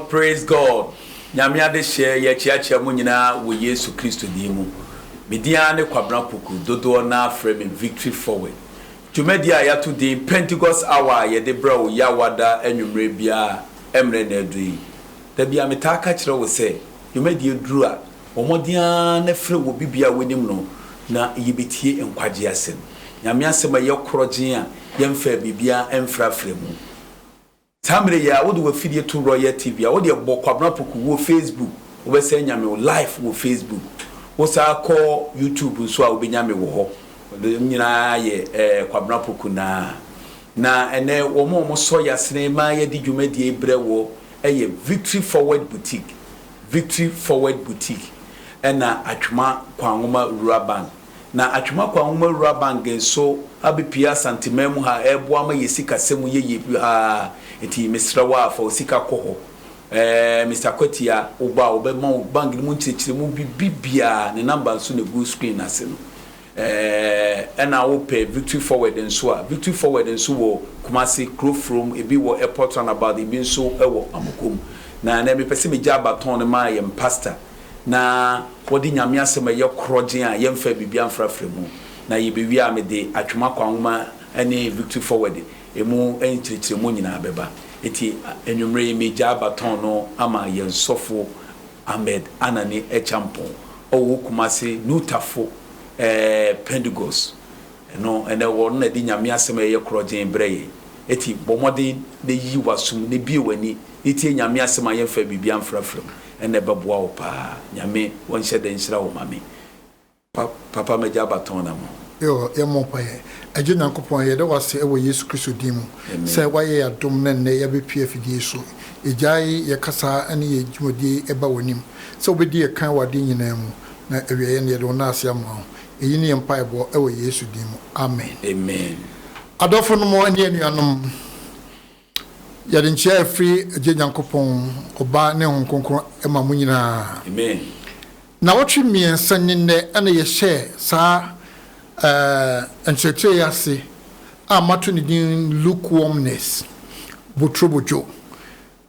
Praise God Nyame adehyeɛ yɛkyeakyea mo nyinaa wɔ Yesu Kristo din mu. Me din ara ne Kwabena Poku, dodoɔ no ara frɛ me Victory Forward. Dwumadie a yɛato din Pentecost Hour a yɛde brɛ wo Yawada anwummerɛ biara mmerɛ na aduru yi. Da biara metaa ka kyerɛ wo sɛ dwumadie duru a, bɔ mmɔden ara na frɛ obi biara a wonim no na yɛbɛtie nkwagyeɛ asɛm. Nyame asɛm a ɛyɛ korɔgyenn a yɛmfaa biribiara mfrafra mu. Saa mmerɛ yi ara, wode w'afidie to Royal TV a, wodeɛ bɔ Kwabena Apoku wɔ Facebook, wobɛsɛ anya me wo live wɔ Facebook. Wo saa kɔ YouTube nso a, wobɛnya me wɔ hɔ. Wode me nyinaa yɛ ɛɛ Kwabena Apoku naa. Na ɛnnɛ, wɔn a wɔsɔ yasene ma yɛde dwumadie yi brɛ woɔ yɛ Victory Forward Boutique, Victory Forward Boutique ɛna Atwema Kwan Nwoma Rural Bank. na Atwemakwa Nwomaruwa Bank nso abepue Asanteman mu ha reboa ama yɛn sikasɛm mu yɛ yie paa, enti mesrɛ wo ara fa wo sika kɔ hɔ. Ɛɛ, Mister Kwatia, woba a wɔbɛma wo bank no mu nkyerɛkyerɛmu biribiara, ne number nso na ɛgu screen no ase no. Ɛɛ, ɛna wopɛ Victory Forward nso a, Victory Forward nso wɔ Kumasi, Kurofrom, ebi wɔ Airport Runabout, ebi nso wɔ Amukum. Na ɛnnɛ mepɛ sɛ megyaa baton no ma yɛn pastor. na wɔde Nyame Asɛm a ɛyɛ korɔgyenn a yɛmfaa biribiara mfrafra mu, na yebewie a mede Atwam Akwan Nwoma ne Victory Forward, emu nkyerɛkyerɛmu nyinaa bɛba. Enti anwummere yi megyaa baton no ama yɛn sɔfo Ahmed Anani Acheampong, ɔwɔ Kumasi Nutafo Pentegost Ɛno na ɛwɔ no na ɛde Nyame asɛm a ɛyɛ korɔgyenn brɛ yɛn. Eti bɔ mmɔden na yi w'aso mu na bue w'ani na tie Nyame asɛm a yɛmfaa biribiara mfrafra mu. Ɛnna ɛbɛboa wo paa. Nyame ɔnhyɛ da nhyira wo Mame. Pa Papa m'agya Abatɔn na mo. Yoo, yɛmmɔ mpaeɛ. Agya Onyankopɔn, yɛda wo ase wɔ Yesu Kristo din mu sɛ woayɛ yɛn adom na nnɛ yɛabɛpue afidie yi so. Yɛgyae yɛn kasa ne yɛn dwumadie yi ba w'anim sɛ wobɛdi yɛn kan wɔ adeɛ nyinaa mu, na awieeɛ no yɛde wo nan ase ama wo. Eyi ne yɛn mpaebɔ wɔ Yesu din mu, amen. Amen. Adɔfonom ne anuanom, yɛde nkyea a ɛfiri Agya Nyankopɔn, Ɔba, ne Honhom Kronkron ma mo nyinaa. Amen. Nnawɔtwe mmiɛnsa ni nnɛ na yɛhyɛɛ saa eh, nkyerɛkyerɛ yi ase a mato ne din Lukewarmness, Boturobodwo.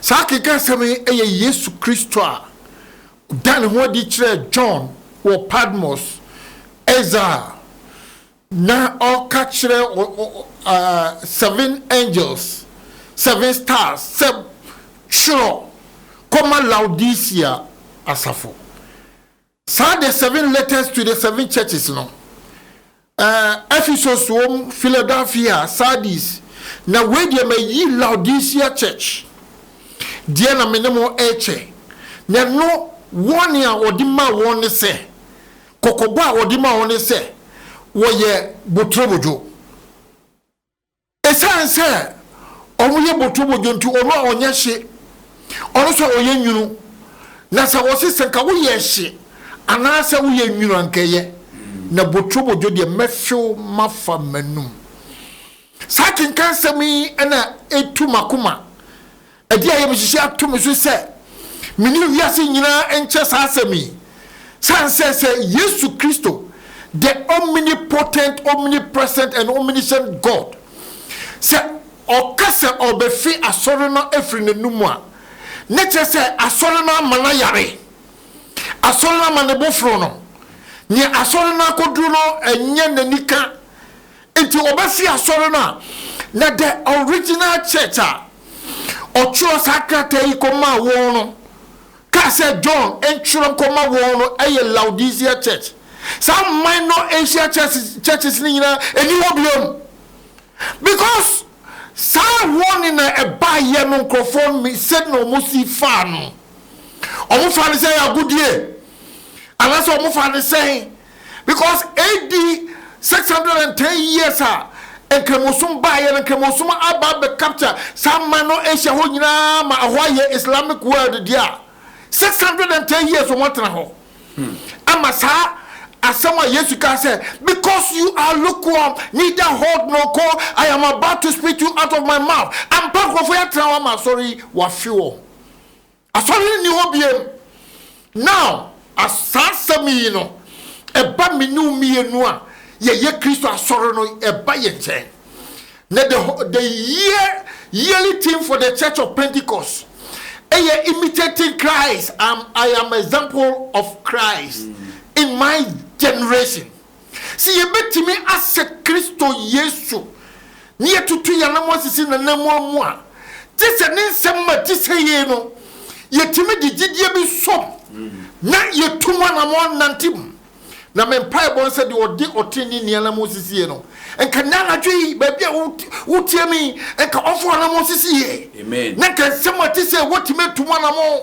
Saa akenkan asɛm yi yɛ Yesu Kristo a ɔdaa ne ho adi kyerɛɛ John wɔ Patmos ɛza a na ɔreka kyerɛ seven angels, seven stars sɛ twerɛ kɔma Laodicea asafo. Saa The Seven Letters to the Seven Churches no, Ephesus wom, Philadelphia, Sardis, na wei deɛ mayi Laodicea Church deɛ na me ne mo rekyɛ, na ɛno wɔn a wɔde maa wɔn ne sɛ, kɔkɔbɔ a wɔde maa wɔn ne sɛ, wɔyɛ boturobodwo. Esiane sɛ wɔyɛ boturobodwo nti, ɔno a ɔnyɛ hye, ɔno nso a ɔyɛ nwunu. Na sɛ wɔse, sɛ nka woyɛ hye anaasɛ woyɛ nwunu a, nka ɛyɛ. Na boturobodwo deɛ, mɛfew mafa m'anom. Saa akenkansɛm yi na etu m'akoma. Ɛdeɛn a yɛbɛhyehyɛ ato me so sɛ me ne wiase nyinaa nkyɛ saa asɛm yi? Sane sɛ sɛ Yesu Kristo, the omnipotent, omnipresent and omniscient God, sɛ ɔka sɛ ɔrebɛfe Asɔre no afiri n'anom a, na kyerɛ sɛ Asɔre no ama no ayare. Asɔre no ama ne bo foro no. Nea Asɔre no akɔduru no nyɛ n'anika. Nti ɔbɛsi asɔre no a, na the original church a ɔtwerɛ saa krataa yi kɔmaa wɔn no kaa sɛ John ntwerɛ nkɔma wɔn no yɛ Laodicea church. Saa minor Asia churches no nyinaa ɛni hɔ biom. Because saa warning na ɛbaeɛ no nkurɔfoɔ no sɛdeɛ wɔn si faa no, wɔn faa no sɛ ɛyɛ agodie anaasɛ wɔn faa no sɛn? because AD six hundred and ten years a Nkramosom baeɛ no, Nkramosom aba abɛ capture saa man no Asia hɔ nyinaa ma ɛhɔ ayɛ Islamic world deɛ a, six hundred and ten years wɔn atena hɔ ama saa asɛm a Yesu kaa sɛ, because you are lukewarm, neither hot nor cold, I am about to spit you out of my mouth. Ampa nkurɔfoɔ yɛatena hɔ ama asɔre yi wafe wɔn. Asɔre nni hɔ biom. Now, as saa asɛm yi no ɛba me ne wo mmienu a yɛyɛ Kristo Asɔre no, ɛba yɛn nkyɛn, na the wh-, the year, yearly theme for the Church of Pentecost yɛ Imitating Christ, I'm, I am example of Christ in my generation. Sɛ yebetumi asɛ Kristo Yesu na yɛatutu yɛn anammɔn asisi n'ananmuwa mu a, gye sɛ ne nsɛm ma ɛte sɛ yei no, yetumi de gyidie bi som na yetu mu anammɔn nante mu. Na me mpaebɔ ne sɛ deɛ ɔde ɔteneneeni anammɔn sisiiɛ no, nka nnɛ anadwo yi, baabi a wotie me yi, nka ɔmfa w'anammɔn sisi yei, na nka nsɛm a ɛte sɛ woatumi atu mu anammɔn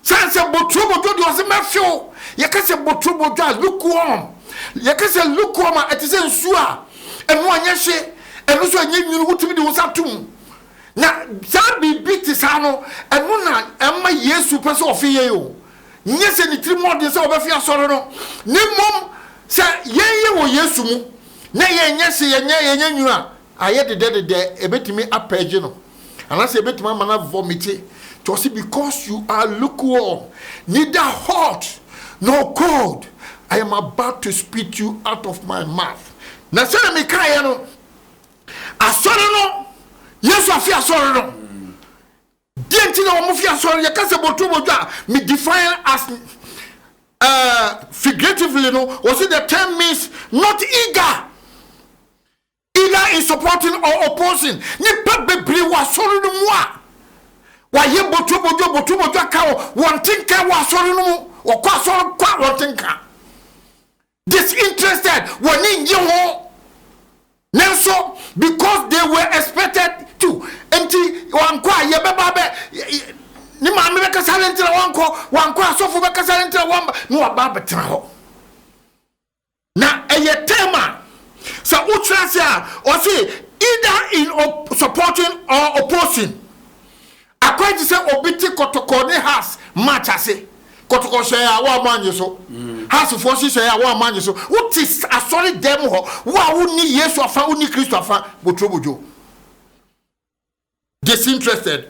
Sane sɛ boturobodwo deɛ ɔse mɛhwe wo. Yɛka sɛ boturobodwo a, lukewarm. Yɛka sɛ lukewarm a, ɛte sɛ nsuo a ɛno anyɛ hye, ɛno nso anyɛ nwunu, wotumi de wo nsa to mu. Na saa biribi te saa no, ɛno na ɛma Yesu pɛ sɛ ɔfe yɛn o. Nyɛ sɛ ne tiri mu ɔden sɛ ɔbɛfe asɔre no, na mmom sɛ yɛn yɛ wɔ Yesu mu na yɛnyɛ hye, yɛnyɛ nwunu a, ayɛ dedɛdedɛ, ɛbɛtumi apɛɛgye no. Anaasɛ yɛbɛtumi ama no avɔmite. Nti ɔse because you are lukewarm, neither hot nor cold, I am about to spit you out of my mouth. Na sɛdeɛ mekaeɛ no, asɔre no, Yesu afe asɔre no, deɛ nti na wɔn fi asɔre no, yɛka sɛ bɔtɔ bɔdwa a, me define as uh, figuratively no, ɔse the term means not eager. Either in supporting or opposing nnipa bebree wɔ asɔre no mu a wɔayɛ botwobodwo, botwobodwo aka wɔ wɔn te nka wɔ asɔre no mu. Wɔkɔ asɔre kɔ a wɔn te nka. Disinterested, wɔn ani nnye ho. Nanso, because they were expected to, nti wɔankɔ a yɛbɛba abɛ, ne maame bɛkasa ne nti na wɔankɔ, wɔankɔ asɔfo bɛkasa ne nti na wɔamba, na wɔaba abɛtena hɔ. Na ɛyɛ term a sɛ wokyerɛ ase a ɔse either in supporting or opposing. Akwan te sɛ obi te kɔtɔkɔ ne Hearts match ase. Kɔtɔkɔ hyɛe a woamma anye so. Hearts foɔ nso hyɛe a woamma anye so. Wote asɔre dan mu hɔ, wo a wonni Yesu afa, wonni Kristo afa, boturobodwo. Disinterested.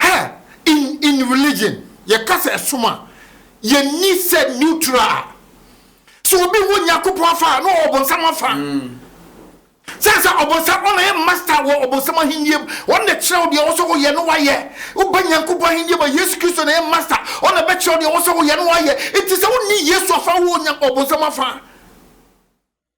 Her, In in religion, yɛka sɛ ɛsom a, yɛnni sɛ neutral a. Sɛ obi wɔ Nyankopɔn afa a, na ɔwɔ ɔbonsam afa. Sɛ sɛ ɔbonsam, ɔna yɛ master wɔ ɔbonsam ahennie mu. Ɔno na ɛkyerɛ wo deɛ ɔwɔ sɛ woyɛ na woayɛ. Woba Nyankopɔn ahennie mu a, Yesu Kristo na ɛyɛ master. Ɔno na ɛbɛkyerɛ wo deɛ ɔwɔ sɛ woyɛ na woayɛ. Enti sɛ wonni Yesu afa a, wowɔ Nya ɔbonsam afa.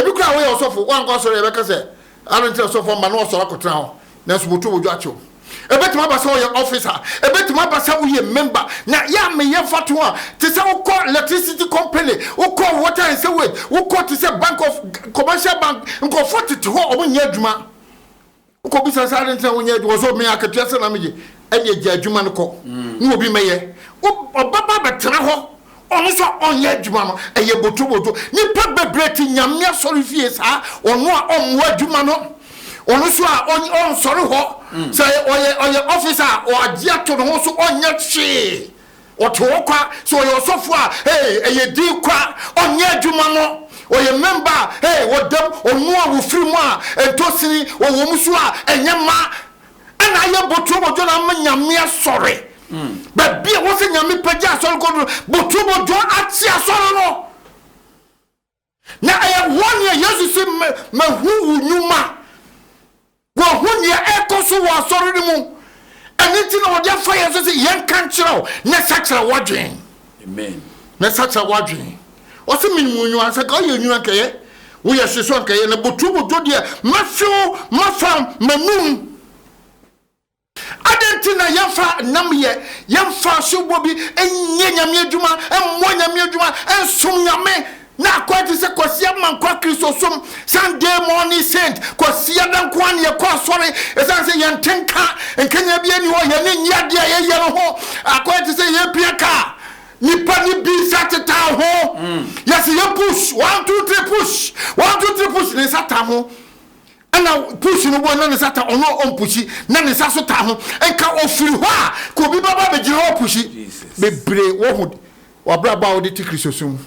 Ebi koraa a woyɛ ɔsɔfo, woankɔ asɔre a, yɛbɛka sɛ, Adɛn nti na ɔsɔfo amma na wasɔre akɔtena hɔ, nanso moto wo dwa akyɛ wo? Ebetumi aba sɛ woyɛ ɔfisa, ebetumi aba sɛ woyɛ member, na yɛ a meyɛ mfatoho a, te sɛ wokɔ electricity company, wokɔ water and sewage, wokɔ te sɛ bank of, commercial bank, nkurɔfoɔ tete hɔ a wɔnyɛ adwuma. Wokɔbisa sɛ, adɛn nti na wonyɛ adwuma? Ɔse, o me akatua sɛ na meyɛ, ɛneɛ gya adwuma no kɔ ne obi mmɛyɛ. Wo ɔbɛba abɛtena hɔ, ɔno nso a ɔnyɛ adwuma no, ɛyɛ botoboto. Nnipa bebree te Nyame asɔrefie saa, ɔno a ɔmmoa adwuma no, ɔno nso a ɔnsɔre hɔ, sɛ ɔyɛ ɔyɛ officer a, ɔagye ato ne ho so, ɔnyɛ hwee. Ɔte hɔ kwa, so ɔyɛ ɔsɔfo a, hey, ɛyɛ din kwa, ɔnyɛ adwuma no, ɔyɛ member a, hey, wɔdam, ɔno a wɔfiri mu a, ntosini wɔ wɔn mu so a, ɛnyɛ ma, ɛna ayɛ botuo bodwo na ama Nyame asɔre, baabi a wɔsɛ Nyame pagya asɔre kɔ no, botuo bodwo akye asɔre no. Na ɛyɛ hɔ nea Yesu se, Mahu wo nnwuma. Wɔahu nea ɛrekɔ so wɔ asɔre no mu. Ɛno nti na wɔde afa yɛn so sɛ yɛnka nkyerɛ wo na sakyera w'adwene. Amen. Na sakyera w'adwene. Ɔse menim wo nnwuma, sɛ ka ɔyɛ nnwuma nkɛyɛ, woyɛ hye so nkɛyɛ, na botuo botuo deɛ, mɛhwe wo, mɛfam, m'anum. Adɛn nti na yɛmfa nnamyɛ, yɛmfa asubɔ bi nyɛ Nyame adwuma, mmɔ Nyame adwuma, nsom Nyame, na akwan te sɛ Kwasia Mankwa Kristosom, Sunday Morning Saint, Kwasiada nko ara na yɛkɔ asɔre, ɛsiane sɛ yɛn nte nka, nkanyan biara nni hɔ, yɛn ani nnye adeɛ a yɛyɛ no ho, akwan te sɛ yɛrepia kaa, nnipa no bi nsa tetaa ho, yɛse yɛ push, one two three push, one two three push, ne nsa taa ho. Ɛna push no bɔ na ne nsa ta ɔno a ɔmpushi na ne nsa so ta ho nka ɔfiri hɔ a ka obi bɛba abɛgyina hɔ apushi bebree woahu wabrabɔ a wode te kristosom mu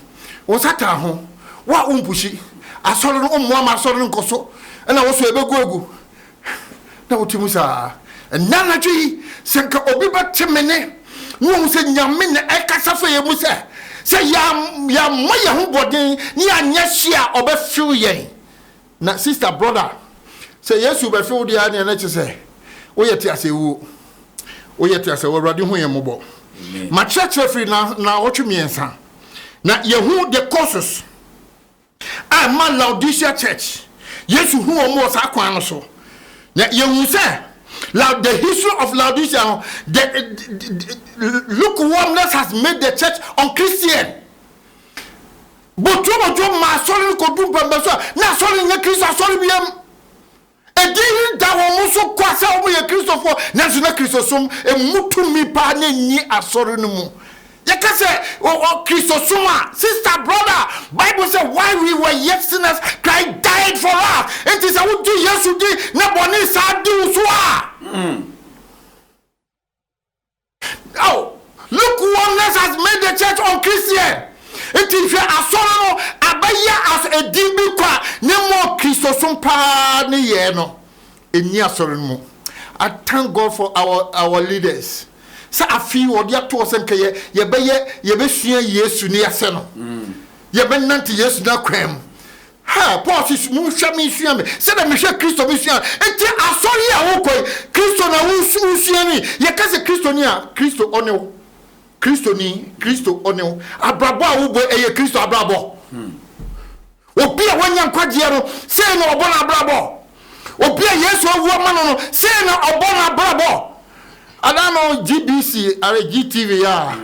wo nsa ta ho wo a wompushi asɔre no wommoa ma asɔre no nkɔso ɛna wo so ɛbɛgu agu na wote mu saa ɛnɛ anadwo yi sɛ nka obi bɛte me ne na wahu sɛ nyame na ɛkasa fa yɛ mu sɛ sɛ yɛammɔ yɛ ho bɔden ne anyɛ hye a ɔbɛfew yɛn Na sister brother sɛ yesu bɛfe wo deɛ aneɛ na kyesɛ woyɛ teasɛ wuo woyɛ teasɛ awurade hu yɛn mmɔbɔ makyerɛkyerɛ firi na naawɔtwe mmiɛnsa na yɛhu the causes a ɛma laodicea church yesu hu wɔn wɔ saa kwan no so na yɛhu sɛ Loud, the history of Laodicea, no, the, the, the lukewarmness has made the church unchristian. Botuo Botuo maa asɔre no kɔduu mpɛmpɛnso a na asɔre no nyɛ Kristo asɔre biom. Edin yi da wɔn so kwa sɛ wɔyɛ Kristofoɔ, nanso na Kristosom mmu tumi pa ara na ɛnni asɔre no mu. Yɛka sɛ Kristosom a, sister, brother, Bible sɛ, While we were yet sinners, Christ died for us. Enti sɛ wogye Yesu di na bɔne saa de wo so a, Oh, lukewarmness has made the church unchristian. Nti hwɛ asɔre no abɛyɛ as edin bi kwa ne mo Kristosom paa ne yɛɛ no ɛnni asɔre no mu. I thank God for our our leaders sɛ afe yi wɔde ato hɔ sɛ nka yɛ yɛbɛyɛ yɛbɛsua Yesu ne yɛasɛ no. Yɛbɛnante Yesu n'akwan mu. Ha, Paul se, Monhwɛ me nsua me, sɛdeɛ mehwɛ Kristo me sua. Enti asɔre yi a worekɔ yi, Kristo na wosua no yi? Yɛka sɛ Kristoni a, Kristo ɔne wo. Kristoni, Kristo ɔne wo. Abrabɔ a wobɔ yi, ɛyɛ Kristo abrabɔ. Obi a wanya nkwagyeɛ no, sei na ɔbɔ n'abrabɔ. Obi a Yesu awu ama no no, sei na ɔbɔ n'abrabɔ. Ada no GBC ara GTV ya a,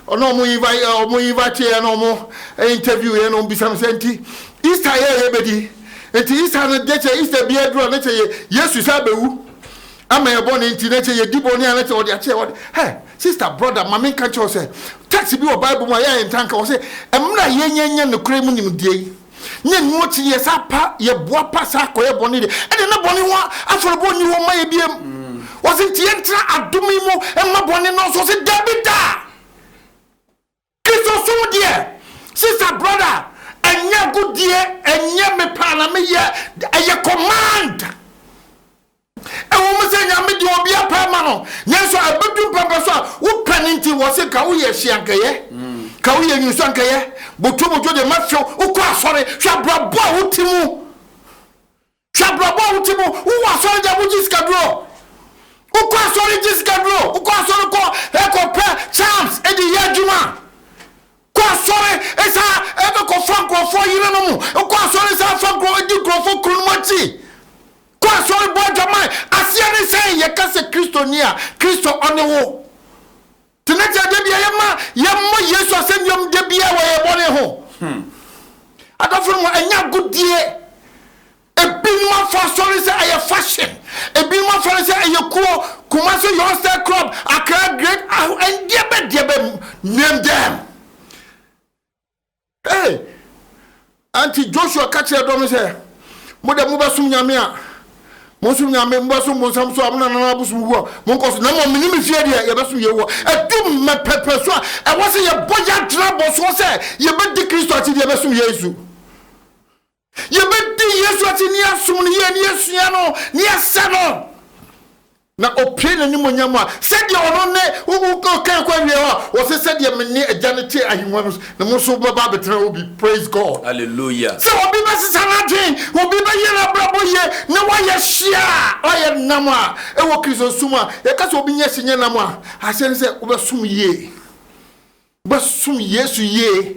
ɔno ɔmo invite eh, ɔmo invite yɛ na ɔmo interview yɛ na ɔmo bisa no sɛ nti Easter yɛ yɛ bɛdi nti Easter no deɛ kyɛ Easter bi aduru a ne kyɛ yɛ Yesu sɛ abɛwu ama yɛ bɔ ne nti ne kyɛ yɛ di bɔ ne a ne kyɛ ɔde akyɛ ɔde hɛ sister brother maame nka kyɛw sɛ text bi wɔ Bible mu a yɛ yɛ ntanka wɔ sɛ ɛmra yɛ nyɛ nyɛ ne kura mu nimdeɛ yi. Nyɛ ɛno akyi no yɛsan pa, yɛboa pa san kɔyɛ bɔne deɛ, ɛnneɛ na bɔne ho afɔrebɔ nni hɔ mma yɛn biom. Ɔse nti yɛntena adom yi mu mma bɔne nnɔɔso, ɔse daabi da! Kristosom deɛ, sister, brother, ɛnyɛ agodie, ɛnyɛ mepɛ a na meyɛ, ɛyɛ command. Ɛwom sɛ Nyame de obia pɛ ma no, nanso ɛbɛdu mpɛmpɛ so a wopɛ no nti wɔ se ka woyɛ hye anka ɛyɛ, ka woyɛ nwusu anka ɛyɛ, boto boto deɛ mɛfew, wokɔ asɔre, hwɛ abrabɔ a wote mu, hwɛ abrabɔ a wote mu, wowɔ asɔre deɛ wogye sikaduro, wokɔ asɔre gye sikaduro, wokɔ asɔre kɔ ɛkɔ pɛ charms ɛde yɛ adwuma, Kɔ asɔre saa ɛfɛ kɔ fa nkurɔfoɔ yere no mu kɔ asɔre saa fa nkurɔ di nkurɔfoɔ kunu nom akyi kɔ asɔre bɔ adwaman aseɛ ne sɛn yɛ ka sɛ kristo ni a kristo ɔne wo tena kyɛ da bia yɛ ma yɛ mmɔ yesu asɛnnua mu da bia wɔ yɛ bɔne ho adɔfo no mu ɛnyɛ agodie Ebinom afa asɔre no sɛ ɛyɛ fashion, ebinom afa no sɛ ɛyɛ kuo, Kumasi Youngster Club, Accra Great Aho and deɛbɛ deɛbɛ name them. Hey! Ɛnti Joshua ka kyerɛɛ dɔm no sɛ, Mo deɛ mobɛsom Nyame a, monsom Nyame, mobɛsom bonsam nso a, mo nananom abosom wu a, monkɔ so, na mmom me ne me fie deɛ, yɛbɛsom Yehowa. Ɛdu mmɛ pɛpɛ so a, ɛwɔ sɛ yɛbɔ yɛn atenabɔ soɔ sɛ yɛbɛdi Kristo akyi de yɛbɛsom Yesu. Yɛbɛdi Yesu akyi ne yɛasom no yie, ne yɛasua no, ne yɛasɛ no, na ɔpue n'animuonyam a, sɛdeɛ ɔno ne, wokan kɔ awieɛ hɔ a, ɔse, sɛdeɛ me ne Agya no te ahennwa no so, na mo nso mobɛba abɛtena hɔ bi. Praise God! Hallelujah! Sɛ obi bɛsesa n'adwen, obi bɛyɛ n'abrabɔ yie, na wayɛ hye a, ɔyɛ nnam a, ɛwɔ Kristosom a, yɛka sɛ obi nyɛ hye nyɛ nnam a, aseɛ ne sɛ wobɛsom yie. Wobɛsom Yesu yie.